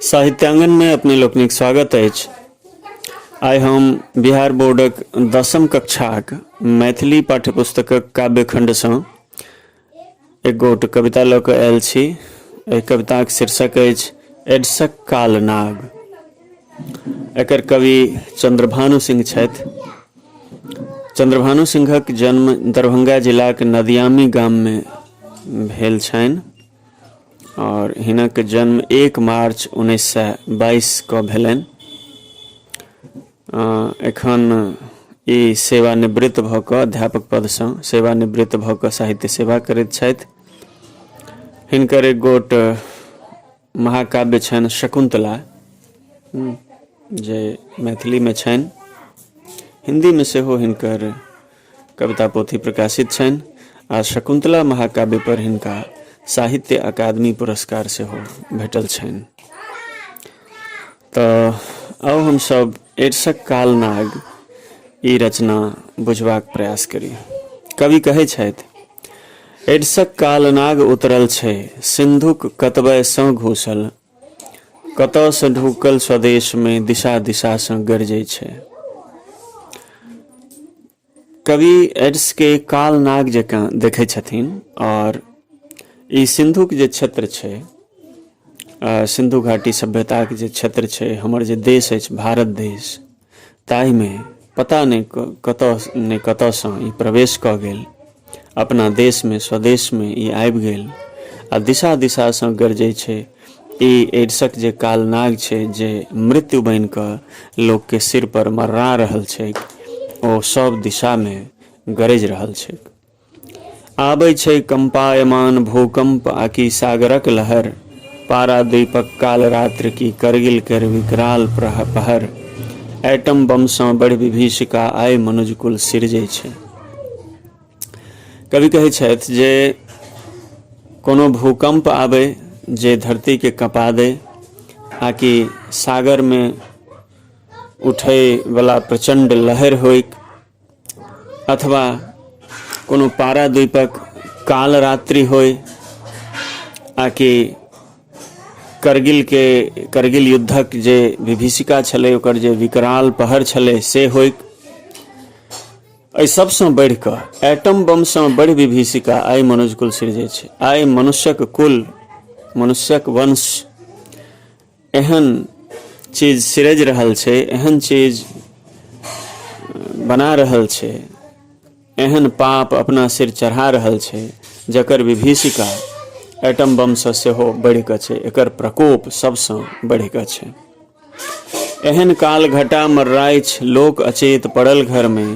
साहित्यांगन में अपने लोकनिक स्वागत अछि आइ हम बिहार बोर्डक दसम कक्षाक मैथिली पाठ्यपुस्तकक काव्य खण्डसँ एक गोट कविता लऽ कऽ आयल छी एहि कविताक शीर्षक अछि एडसक काल नाग एकर कवि चंद्रभानु सिंह छथि चंद्रभानु सिंहक जन्म दरभंगा जिलाक नदियामी गाममे भेल छनि और हिनक जन्म एक मार्च उन्नैस सए बाईस के भेलनि एखन ई सेवानिवृत्त भऽ कऽ अध्यापक पदसँ सेवानिवृत्त भऽ कऽ साहित्य सेवा करैत छथि हिनकर एक गोट महाकाव्य छनि शकुन्तला जे मैथिलीमे छनि हिन्दीमे सेहो हिनकर कविता पोथी प्रकाशित छनि आ शकुन्तला महाकाव्य पर हिनका साहित्य अकादमी पुरस्कार से हो भेटल छनि तऽ अब हम सब एडसक काल नाग ई रचना बुझबाक प्रयास करी कवि कहै छथि एडसक काल नाग उतरल छै सिंधुक कतबयसँ घुसल कतयसँ ढुकल स्वदेशमे दिशा दिशासँ गरजै छै कवि एड्सके काल नाग जकाँ देखै छथिन आओर ई सिन्धुक जे क्षेत्र छै सिन्धु घाटी सभ्यताके जे क्षेत्र छै हमर जे देश अछि भारत देश ताहिमे पता नहि कतऽ नहि कतऽसँ ई प्रवेश कऽ गेल अपना देशमे स्वदेशमे ई आबि गेल आ दिशा दिशासँ गरजै छै ई एड्सक जे कालनाग छै जे मृत्यु बनि कऽ लोकके सिर पर मर्रा रहल छै ओ सब दिशामे गरजि रहल छै आबै छै कंपायमान भूकंप आकि सागरक लहर पारादीपक कालरात्र कि करगिल केर विकराल पहर एटम बम सँ बढ़ि विभीषिका आइ मनुजकुल सिरजै छै कवि कहै छथि जे कोनो भूकंप आबै जे धरतीके कँपा दै आकि सागरमे उठैवला प्रचण्ड लहर होइक अथवा कोनो पारा द्वीपक काल रात्रि होय आ कि करगिलके करगिल युद्धक जे विभीषिका छलै ओकर जे विकराल पहर छलै से होय एहि सभसँ बढ़ि कऽ एटम बमसँ बढ़ि विभीषिका आइ मनुज कुल सिरजै छै आइ मनुष्यक कुल मनुष्यक वंश एहन चीज सिरज रहल छै एहन चीज बना रहल छै एहन पाप अपना सिर चढ़ा रहल छै जकर विभीषिका एटम बमसँ सेहो बढ़िकऽ छै एकर प्रकोप सबसँ बढ़िकऽ छै एहन काल घटा मर्राइछ लोक अचेत पड़ल घरमे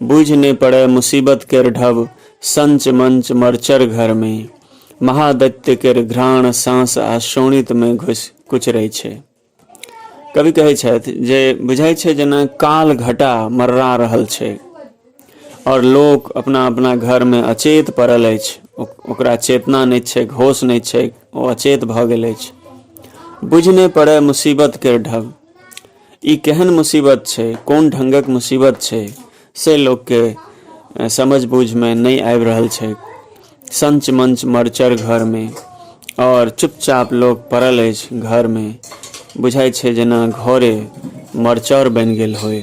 बुझि नहि पड़य मुसीबत केर ढब संच मंच मरचर घरमे महादैत्य केर घ्राण साँस आ शोणित मे घुसि कुचरै छै कवि कहै छथि जे बुझाइ छै जेना काल घटा मर्रा रहल छै आओर लोक अपना अपना घरमे अचेत पड़ल अछि ओकरा चेतना नहि छै होश नहि छै ओ अचेत भऽ गेल अछि बुझि नहि पड़ै मुसीबतके ढग ई केहन मुसीबत छै कोन ढङ्गक मुसीबत छै से लोकके समझ बूझमे नहि आबि रहल छै सञ्च मञ्च मरचर घरमे आओर चुपचाप लोक पड़ल अछि घरमे बुझाइत छै जेना घरे मरचर बनि गेल होय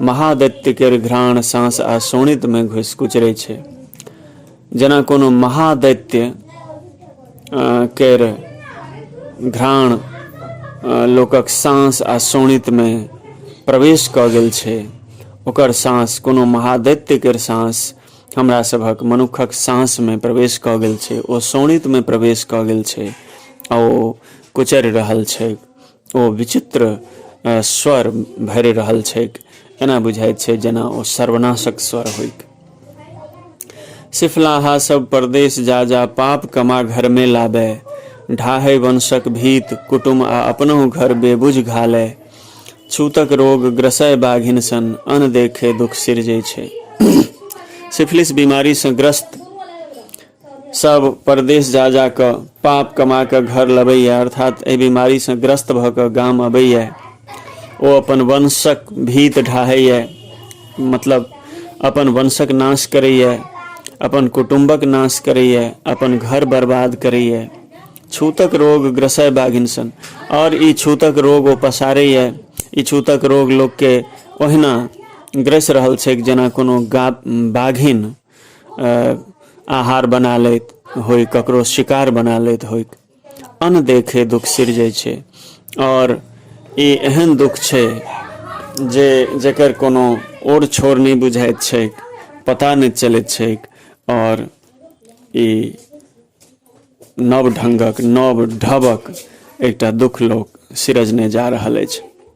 महादैत्य केर घ्राण साँस आ सोनित में घुसि कुचरै छै जेना कोनो महादैत्य केर घ्राण लोकक साँस आ सोनित में प्रवेश कऽ गेल छै ओकर साँस कोनो महादैत्य केर साँस हमरा सभक मनुखक साँस में प्रवेश कऽ गेल छै ओ सोनित में प्रवेश कऽ गेल छै आ ओ कुचरि रहल छै ओ विचित्र स्वर भरि रहल छैक एना बुझाइत छै जेना ओ सर्वनाशक स्वर होइक सिफलाहा सब परदेश जा जा पाप कमा घर में लाबे ढाहे वंशक भीत कुटुम आ अपनो घर बेबुझ घाले छूतक रोग ग्रसय बाघिन सन अन देखे दुख सिरजे छै सिफिलिस बीमारी से ग्रस्त सभ परदेश जा जा कऽ पाप कमा कऽ घर लबैए अर्थात एहि बीमारीसँ ग्रस्त भऽ कऽ गाम अबैए ओ अपन वंशक भीत ढाहैए मतलब अपन वंशक नाश करैए अपन कुटुम्बक नाश करैए अपन घर बर्बाद करैए छूतक रोग ग्रसय बाघिनसन आओर ई छूतक रोग ओ पसारैए ई छूतक रोग लोकके ओहिना ग्रसि रहल छैक जेना कोनो गा बाघिन आहार बना लैत होइ ककरो शिकार बना लैत होइ अन्न देखे दुख सिरजै छै आओर ई एहन दुख छै जे जकर कोनो ओर छोर नहि बुझाइत छैक पता नहि चलैत छैक आओर ई नव ढङ्गक नव ढबक एकटा दुख लोक सिरजने जा रहल अछि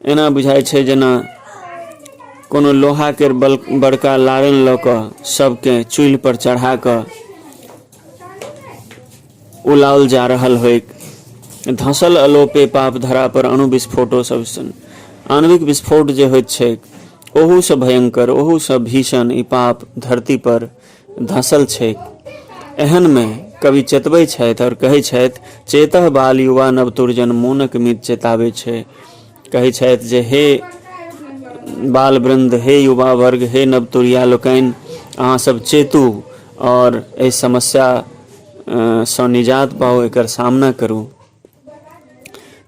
एना बुझाइ छै जेना कोनो लोहा के बड़का लारन लऽ कऽ सबके चूल्हि पर चढ़ा कऽ उलाओल जा रहल होइक धसल अलोपे पाप धरा पर अणु विस्फोटो सब सन आणविक विस्फोट जे होइत छैक ओहूसँ भयंकर ओहूसँ भीषण ई पाप धरती पर धसल छैक एहन मे कवि चेतबै छथि आओर कहै छथि चेतह बाल युवा नव तुरजन मोनक मीत चेताबै छै कहै छथि जे हे बाल वृन्द हे युवा वर्ग हे नवतुरिया लोकनि अहाँसभ चेतू आओर एहि समस्या सँ निजात पाउ एकर सामना करू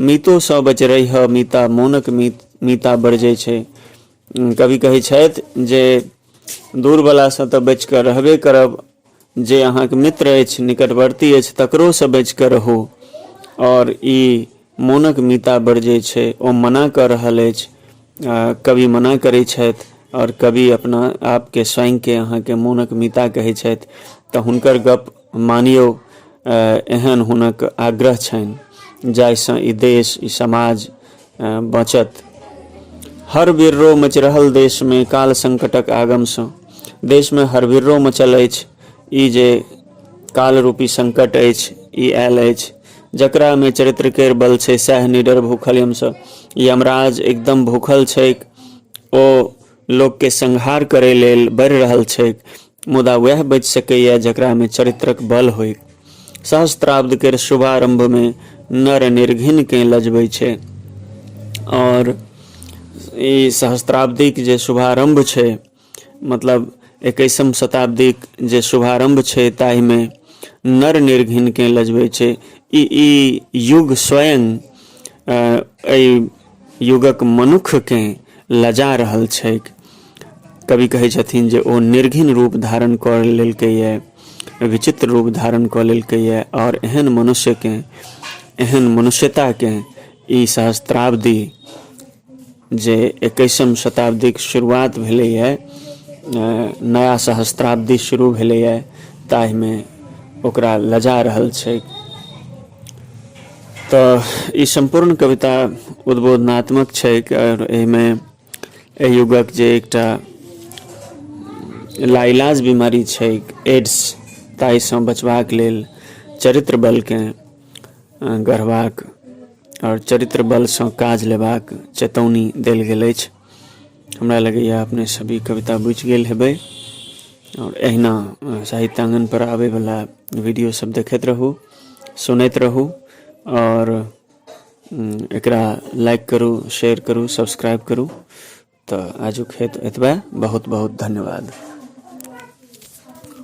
मीतो सँ बच रहिह मीता मोनक मीत मीता बरजै छै कवि कहै छथि जे दूरवलासँ तऽ बचि कऽ रहबे करब जे अहाँके मित्र अछि निकटवर्ती अछि तकरोसँ बचि कऽ रहू आओर ई मोनक मीता बरजै छै ओ मना कऽ रहल अछि कवि मना करै छथि आओर कवि अपना आपके स्वयंके अहाँके मोनक मिता कहै छथि तऽ हुनकर गप मानियौ एहन हुनक आग्रह छनि जाहिसँ ई देश ई समाज बचत हर बिर्रो मचि रहल देशमे काल संकटक आगमसँ देशमे हर बिर्रो मचल अछि ई जे कालरूपी संकट अछि ई आयल अछि जकरामे चरित्र केर बल छै सएह निडर भूखल यमसँ यमराज एकदम भूखल छैक ओ लोकके संहार करै लेल बढ़ि रहल छैक मुदा वएह बचि सकैए जकरामे चरित्रक बल होइक सहस्त्राब्द केर शुभारम्भमे नर निर्घिनकेँ लजबै छै आओर ई सहस्त्राब्दीक जे शुभारम्भ छै मतलब एकैसम शताब्दीक जे शुभारम्भ छै ताहिमे नर निर्घिनकेँ लजबै छै ई ई युग स्वयं एहि युगक मनुक्खकेँ लजा रहल छैक कवि कहै छथिन जे ओ निर्घिन रूप धारण कऽ लेलकैए विचित्र रूप धारण कऽ लेलकैए आओर एहन मनुष्यकेँ एहन मनुष्यताकेँ ई सहस्त्राब्दी जे एकैसम शताब्दीक शुरुआत भेलैए नया सहस्त्राब्दी शुरू भेलैए ताहिमे ओकरा लजा रहल छै तऽ ई सम्पूर्ण कविता उद्बोधनात्मक छै आओर एहिमे एहि युगक जे एकटा लाइलाज बीमारी छै एड्स ताहिसँ बचबाक लेल चरित्र बलकेँ गढ़बाक आओर चरित्र बलसँ काज लेबाक चेतौनी देल गेल अछि हमरा लगैए अपने सभ ई कविता बुझि गेल हेबै आओर एहिना साहित्याङ्गनपर आबैवला वीडियोसभ देखैत रहू सुनैत रहू आओर एकरा लाइक करू शेयर करू सब्सक्राइब करू तऽ आजुक हेतु एतबे बहुत बहुत धन्यवाद